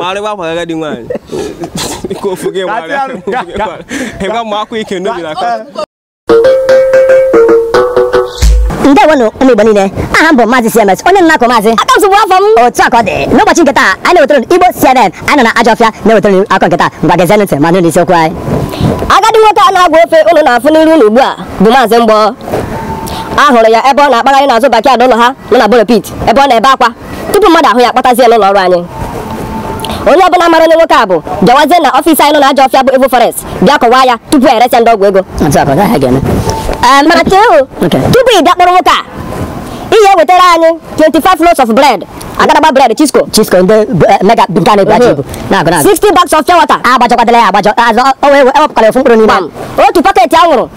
marịwa akwa agadi nwaanyị ka ofu gị marịa ịgwa m akwa ike n'obi na aka ndewonụ ụmụ igbo niile aha m bụ maazị cms onye nna akụ maazị aka nsogbu afọ m otu akụkọ dị n'ụbọchị nke taa anyị na-ewetara igbo cnn anyị nọ na ajọ ọfịa na-ewetara akụkọ nke taa ngwa gezie ntị ma nụ n'isiokwu anyị agadi nwoke a na-agwa ofe ụlọ na-afụ n'iru ụlọ ugbu a bụ maazị mgbọ a hụrụ ya ebe ọ na-akpagharị n'azụ backyard ụlọ ha nọ na borepit ebe ọ na-ebe akwa tupu mmadụ ahụ ya akpatazie n'ụlọ ọrụ anyị onye ọbụla mara onye nwoke a bụ bịawazie na ọfịs anyị nọ na ajọ ọfịa bụ Evil Forest bịa kọwaa ya tupu e resịa ndị ọgwụ ego otu a ka ọ gaghị aga eme Ee, mana chee o Okay. tupu ị bịa kpọrọ nwoke a ị ya ewetara anyị 25 loaves of bread agadagba bread Chisco chisko ndị bu- eh, mega nke a na-ebu ajọ ibu na-agụ na-agụ 60 bags of pure water agbajọkwadala ya agbajọ azụ o wee ewepụkwala ofu mkpụrụ n'ime Gbam. otu paketi anwụrụ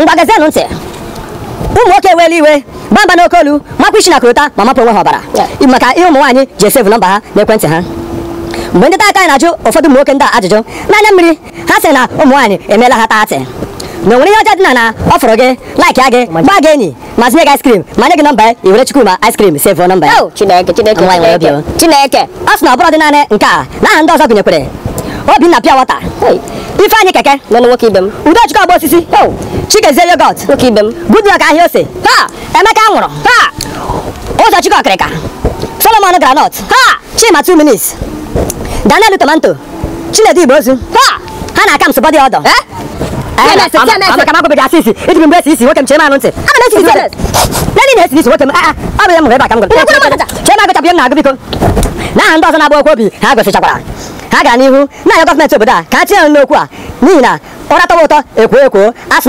ngwa gezienụ ntị ụmụ nwoke eweela iwe baa mba n'oke olu makwa isi na korota ma mapụ onwe ha ọbara maka ihe ụmụ nwaanyị ji esevu nọmba ha n'ekwentị ha mgbe ndị nta akụkọ anyị na-ajụ ụfọdụ ụmụ nwoke ndị a ajụjụ n'anya mmiri ha sị na ụmụ nwaanyị emeela ha taatị na o nwere ihe ọjọọ dị na na ọ fụrụ gị laikịa gị gbaa gị enyi ma zụnye gị ice cream ma nye gị nọmba ya i were Chukwuma ice cream save nọmba ya Oh, Chineke, Chineke, Nwaanyị nwere Chineke, obi Chineke. ọ sị na ọ bụrọdị naanị nke a na aha ndị ọzọ gụnyekwere Obinna pure water Hey, Ifeanyị keke nwanne nwoke ibe m. Udochukwu ọgba osisi Oh, Chikezie yoghurt nwoke ibe m. Goodluck ahịa ose Ha! Emeka anwụrụ Ha! Ụzọchukwu ọkịrịka Solomon groundnut Ha! Chima 2 minutes Daniel tomato Chinedu igbe ozu Ha! ha na Kamsi body odour eh? Eh, ana ka m agwabeghị asị isi iji mgbe esi isi nwoke m chee m anụ ntị na ị na-esi isi nwoke m ah, ah, ọ bụ ya m hụrụ ebe a ka m gụrụ chee m agụchapụ ihe m na-agụ biko na aha ndị ọzọ na-agbawakwu obi ha gosichakwara ha gara n'ihu na-arịọ gọọmenti obodo a ka ha tinye n'okwu a n'ihi na ụra tọwa ụtọ e kwoo ekwoo asị